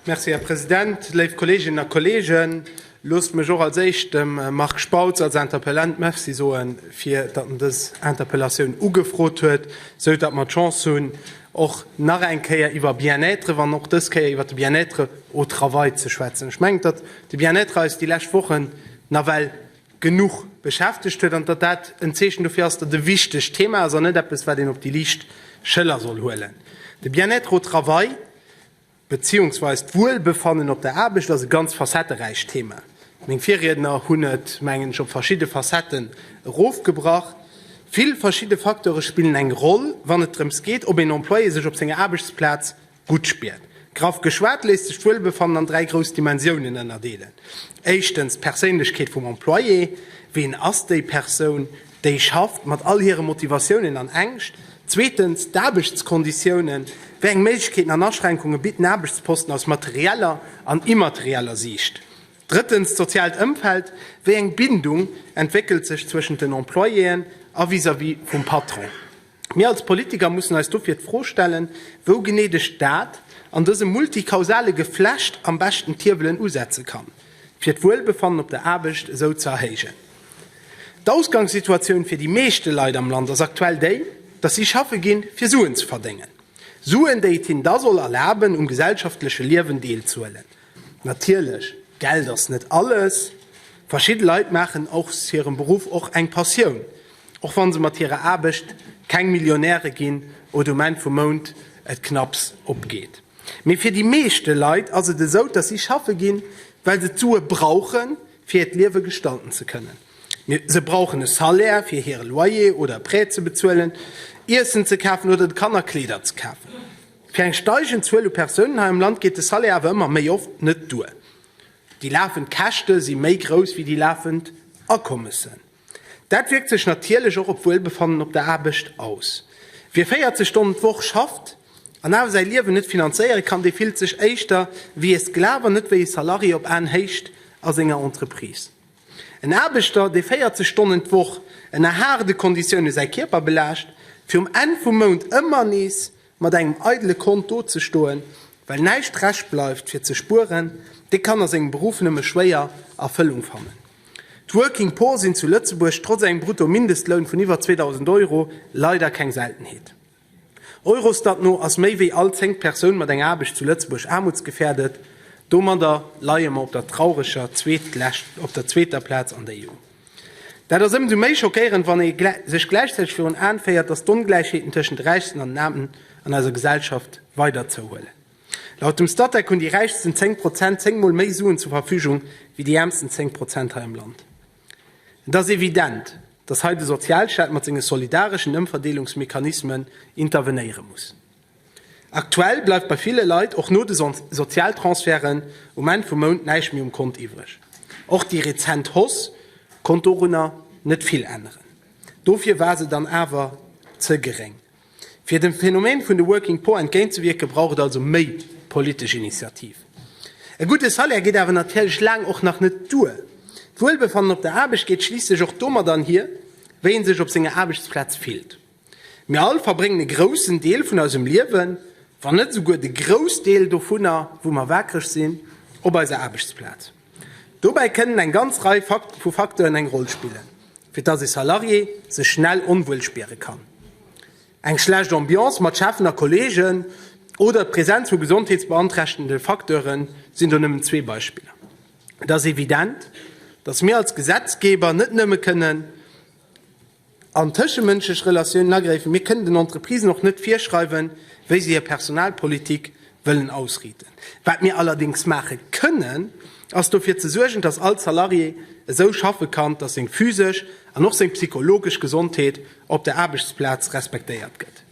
Merci, Här President. Léif Kolleeginnen a Kolleegen, loosst mech och als Éischt dem Marc Spautz als Interpellant Merci soe fir datt en dës Interpellatioun ugefrot huet, sou datt mer d'Chance hunn, och nach eng Kéier iwwer Bien-être, wann och dës Kéier iwwer de Bien-être au travail ze schwätzen. Ech mengen, datt de Bien-être eis déi lescht Wochen nawell, genuch beschäftegt huet an datt dat en Zeechen dofir ass, datt e wichtegt Thema ass an net eppes, wat een op déi liicht Schëller soll huelen. De Bien-être au travail beziehungsweis d'Wuelbefannen op der Aarbecht ass e ganz facetteräicht Thema. Meng Virriedner hunn et, mengen ech, op verschidde Facetten erofgebrach. Vill verschidde Facteure spillen eng Roll, wann et drëms geet, ob een Employé sech op senger Aarbechtsplaz Gutt spiert. Graff geschwat léisst sech d'Wuelbefannen an dräi grouss Dimensiounen ënnerdeelen. Éischtens d'Perséinlechkeet vum Employé, ween ass déi Persoun, déi schafft, mat all hire Motivatiounen an Ängscht. Zweetens d'Aarbechtskonditiounen, wéi eng Méiglechkeeten an Aschränkunge bitt den Aarbechtsposten aus materieller an immaterieller Siicht. Drëttens d'soziaalt Ëmfeld, wéi eng Bindung entwéckelt sech zwëschent den Employéen a vis-à-vis vum Patron. Mir als Politiker mussen eis dofir d'Fro stellen, wou genee de Staat an dësem multikausale Geflecht am beschten d'Hiewelen usetze kann, fir d'Wuelbefannen op der Aarbecht esou ze erhéijen. D'Ausgangssituatioun fir déi meeschte Leit am Land ass aktuell déi, dass si schaffe ginn, fir Suen ze verdéngen. Suen, déi et hinnen da soll erlaben, um gesellschaftleche Liewen deelzuhuelen. Natierlech, Geld ass net alles. Verschidde Leit maachen aus hirem Beruff och eng Passioun. Och wann se mat hirer Aarbecht keng Millionäre ginn oder um Enn vum Mount et knapps opgeet. Mee fir déi meeschte Leit ass et esou, dass si schaffe ginn, well se d'Sue brauchen, fir hiert Liewe gestalten ze kënnen. Se brauchen e Salaire, fir hire Loyer oder e Prêt ze bezuelen, Iessen ze kafen oder de Kanner Kleeder ze kafen. Fir eng steigend Zuel u Persounen hei am Land geet de Salaire awer ëmmer méi oft net duer. Déi lafend Käschte si méi grouss wéi déi lafend Akommessen. Dat wierkt sech natierlech och op d'Wuelbefannen op der Aarbecht aus. Wie 40 Stonnen d'Woch schafft an awer säi Liewen net finanzéiere kann, dee fillt sech éischter wéi ee Sklav an net wéi ee Salarié op Aenhéicht a senger Entreprise. En Aarbechter, dee 40 Stonnen d'Woch ënner haarde Konditioune säi Kierper belaascht, fir um Enn vum Mount ëmmer nees Mat engem eidele Kont do ze stoen, well näischt Rescht bleift fir ze spueren, dee kann a sengem Beruff nëmme schwéier Erfëllung fannen. D'Working Poor sinn zu Lëtzebuerg trotz engem Brutto-Mindestloun vun iwwer 2.000 Euro leider keng Seltenheet. Eurostat no ass méi wéi all zéngt Persoun mat enger Aarbecht zu Lëtzebuerg aarmutsgefährdet. Domadder leie mer op der traureger zweetlescht op der zweeter Plaz an der EU. Dat ass ëmsou méi schockéierend, wann ee sech gläichzäiteg virun Aen féiert, datt d'Ongläichheeten tëschent de Räichsten an den Aarmen an eiser Gesellschaft weider zouhuelen. Laut dem Statec hunn déi räichsten 10 Prozent 10 mol méi Suen zur Verfügung wéi déi äermsten 10 Prozent hei am Land. Et ass evident, datt hei de Sozialstaat mat senge solidareschen Ëmverdeelungsmechanismen intervenéiere muss. Aktuell bleift bei ville Leit och no de Sozialtransferten um Enn vum Mount näischt méi um Kont iwwreg. Och déi rezent Hausse konnt dorunner net vill änneren. Dofir war se dann awer ze geréng. Fir dem Phänomen vun de Working Poor entgéintzewierken, brauch et also méi politesch Initiativ. E gudde Salaire geet awer natierlech laang och nach net duer. D'Wuelbefannen op der Aarbecht geet schliisslech och domat anhir, wéi ee sech op senger Aarbechtsplaz fillt. Mir all verbréngen e groussen Deel vun eisem Liewen, wann net esouguer de Groussdeel dovunner, wou mer waakreg sinn, op eiser Aarbechtsplaz. Dobäi kënnen eng ganz Rei vu Facteuren eng Roll spillen, fir dass ee Salarié sech schnell onwuel spiere kann. Eng schlecht Ambiance mat Cheffen a Kolleegen oder d'Presenz vu gesondheetsbeanträchtende Facteure sinn do nëmmen zwee Beispiller. Et ass evident, dass mir als Gesetzgeber net nëmme kënnen. An tëschemënschlech Relatiounen agréifen. Mir kënnen den Entreprisen och net virschreiwen, wéi se hir Personalpolitik wëllen ausriiten. Wat mir allerdéngs maache kënnen, ass dofir ze suergen, dass all Salarié esou schaffe kann, dass seng physesch an och seng psychologesch Gesondheet op der Aarbechtsplaz respektéiert gëtt.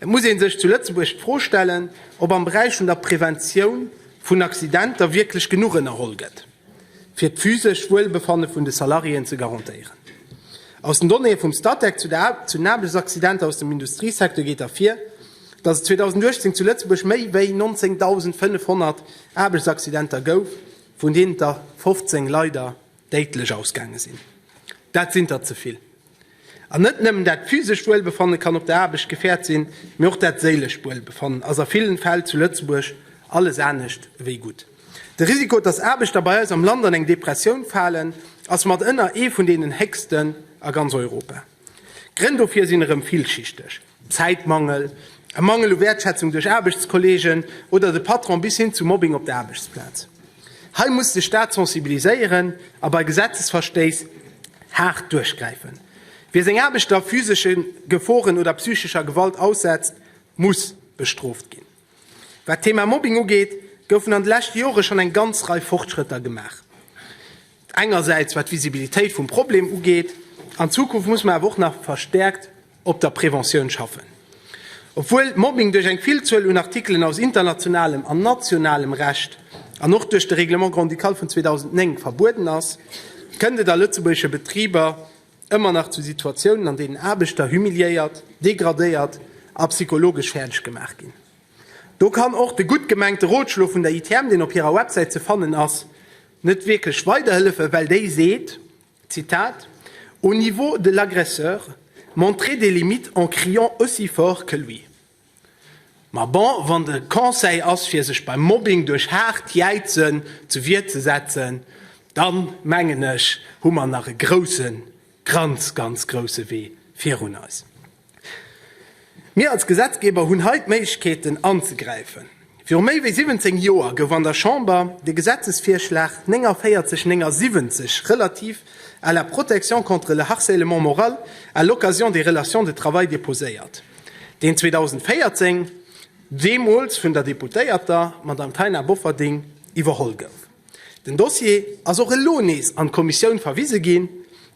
Et muss ee sech zu Lëtzebuerg d'Fro stellen, ob am Beräich vun der Preventioun vun Accidenter wierklech genuch ënnerholl gëtt, fir d'physescht Wuelbefanne vun de Salariéen ze garantéieren. Aus den Donnéeë vum Statec zu den Aarbechtsaccidenter aus dem Industriesecteur geet ervir, dass et 2018 zu Lëtzebuerg méi wéi 19.500 Aarbechtsaccidenter gouf, vun deenen der 15 leider déidlech ausgaange sinn. Dat sinn der ze vill! An net nëmmen dat physescht Wuelbefanne kann op der Aarbecht gefäert sinn, mee och dat séilescht Wuelbefannen ass a villen Fäll zu Lëtzebuerg alles anescht ewéi gutt. De Risiko, dass Aarbechter bei eis am Land an eng Depressioun falen, ass mat ënner ee vun deenen héchsten a ganz Europa. D'Grënn dofir sinn erëm villschichteg. Zäitmangel, e Mangel u Wäertschätzung duerch Aarbechtskolleegen oder de Patron bis hin zu Mobbing op der Aarbechtsplaz. Hei muss de Staat sensibiliséieren a bei Gesetzesverstéiss haart duerchgräifen. Wie seng Aarbechter physesche Geforen oder psychescher Gewalt aussetzt, muss bestrooft ginn. Wat d'Thema Mobbing ugeet, goufen an de leschte Jore schonn eng ganz Rei Fortschrëtter gemaach. Engersäits wat d'Visibilitéit vum Problem ugeet. An Zukunft muss mer awer och nach verstärkt op der Preventioun schaffen. Obwuel Mobbing duerch eng Villzuel un Artikelen aus internationalem an nationalem Recht an och duerch de Règlement grand-ducal vun 2009 verbueden ass, kënnt et a lëtzebuergesche Betriber ëmmer nach zu Situatiounen, an deenen Aarbechter humiliéiert, degradéiert a psychologesch fäerdeg gemaach ginn. Do kann och de gutt gemengte Rotschlo vun der ITM, deen op hirer Websäit ze fannen ass, net wierklech weiderhëllefen, well déi seet, Zitat, Au niveau de l'agresseur, montrer des limites en criant aussi fort que lui. Ma bon, wann de Conseil ass, fir sech beim Mobbing duerch haart Jäizen zur Wier ze setzen, da mengen ech, hu mer nach e grousse, ganz, ganz grousse Wee virun eis. Mir als Gesetzgeber hunn hei d'Méiglechkeeten anzegräifen. Viru méi wéi 17 Joer gouf an der Chamber de Gesetzesvirschlag 4979 relativ à la protection contre le harcèlement moral à l'occasion des relations de travail déposéiert, deen 2014 deemools vun der Deputéierter Madame Taina Bofferding iwwerholl gouf. Den Dossier ass och elo nees an d'Kommissioun verwise ginn.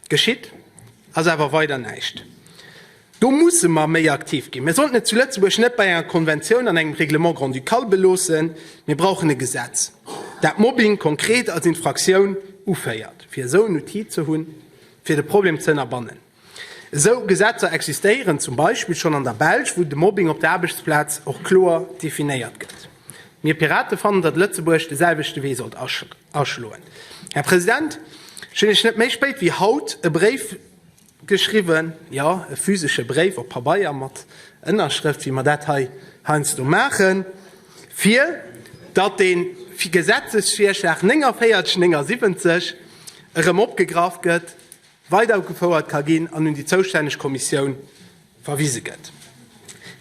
Geschitt ass awer weider näischt. Do musse mer méi aktiv ginn. Mir sollten et zu Lëtzebuerg net bei enger Konventioun an engem Règlement grand-ducal beloossen. Mir brauchen e Gesetz, dat Mobbing konkret als Infraktioun uféiert, fir esou en Outil ze hunn, fir de Problem ze ënnerbannen. Esou Gesetzer existéieren zum Beispill schonn an der Belsch, wou de Mobbing op der Aarbechtsplaz och kloer definéiert gëtt. Mir Pirate fannen, datt Lëtzebuerg de selwechte Wee sollt aschloen. Här President, ech hunn Iech net méi spéit wéi haut e Bréif geschriwwen, jo, e physesche Bréif op Pabeier mat Ënnerschrëft, wéi mer dat hei heiansdo maachen, fir datt dee Gesetzesvirschlag 4979 erëm opgegraff gëtt. weiderugefouert ka ginn an un déi zoustänneg Kommissioun verwise gëtt.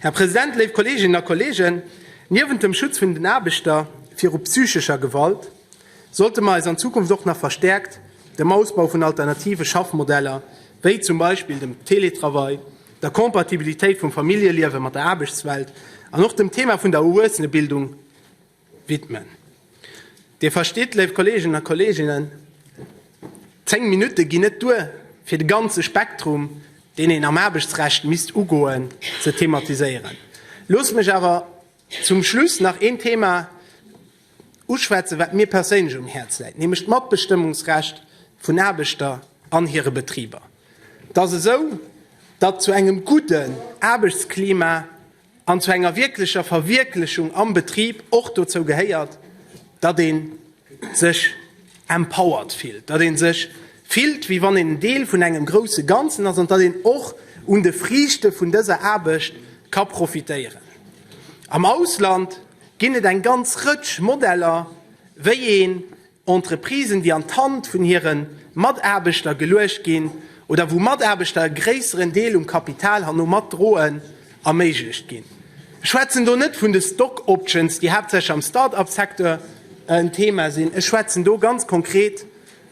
Här President, léif Kolleeginnen a Kolleegen, niewent dem Schutz vun den Aarbechter viru psychescher Gewalt sollte mer eis an Zukunft och nach verstäerkt dem Ausbau vun alternative Schaffmodeller, wéi zum Beispill dem Teletravail, der Compatibilitéit vum Familljeliewe mat der Aarbechtswelt an och dem Thema vun der Erwuessenebildung, widmen. Dir verstitt, léif Kolleegen a Kolleeginnen, zéng Minutte ginn net duer, fir de ganze Spektrum, deen een am Aarbechtsrecht misst ugoen, ze thematiséieren. Loosst mech awer zum Schluss nach een Thema uschwätzen, wat mir perséinlech um Häerz läit, nämlech d'Matbestëmmungsrecht vun Aarbechter an hire Betriber. Et ass esou, datt zu engem gudden Aarbechtsklima an zu enger wierklecher Verwierklechung am Betrib och dozou gehéiert, datt ee sech empowered fillt, datt ee sech fillt, wéi wann een en Deel vun engem grousse Ganzen ass an datt een och un de Friichte vun dëser Aarbecht ka profitéieren. Am Ausland ginn et eng ganz Rëtsch Modeller, wéi ee Entreprisen, déi an d'Hand vun hire Mataarbechter geluecht ginn oder wou Mataarbechter e gréisseren Deel um Kapital herno mat droen, erméiglecht ginn. Ech schwätzen do net vun de Stock Options, déi haaptsächlech am Start-up Secteur en Thema sinn. Ech schwätzen do ganz konkret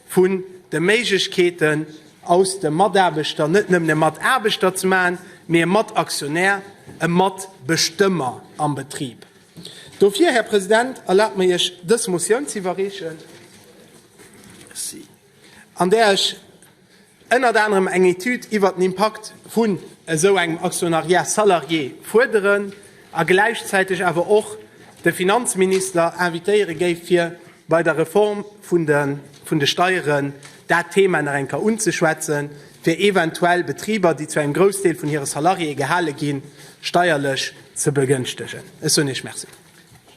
vun de Méiglechkeeten, aus de Mataarbechter net nëmmen e Mataarbechter ze maachen, mee e Mataktionär, e Matbestëmmer am Betrib. Dofir, Här President, erlaabt mir Iech dës Motioun ze iwwerreechen, an där ech ënnert anerem eng Etüd iwwert den Impakt vun esou engem Actionnariat salarié fuerderen a gläichzäiteg awer och de Finanzminister invitéiere géif, fir bei der Reform vun de vun de Steieren dat Thema nach eng Kéier unzeschwätzen, fir eventuell Betriber, déi zu engem Groussdeel vun hire Salariéë gehale ginn, steierlech ze begënschtegen. Ech soen Iech Merci.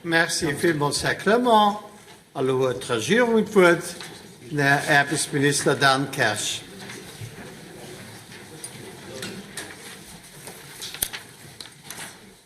Merci villmools, Här Clement. Elo huet d'Regierung d'Wuert, den Här Aarbechtsminister Dan Kersch.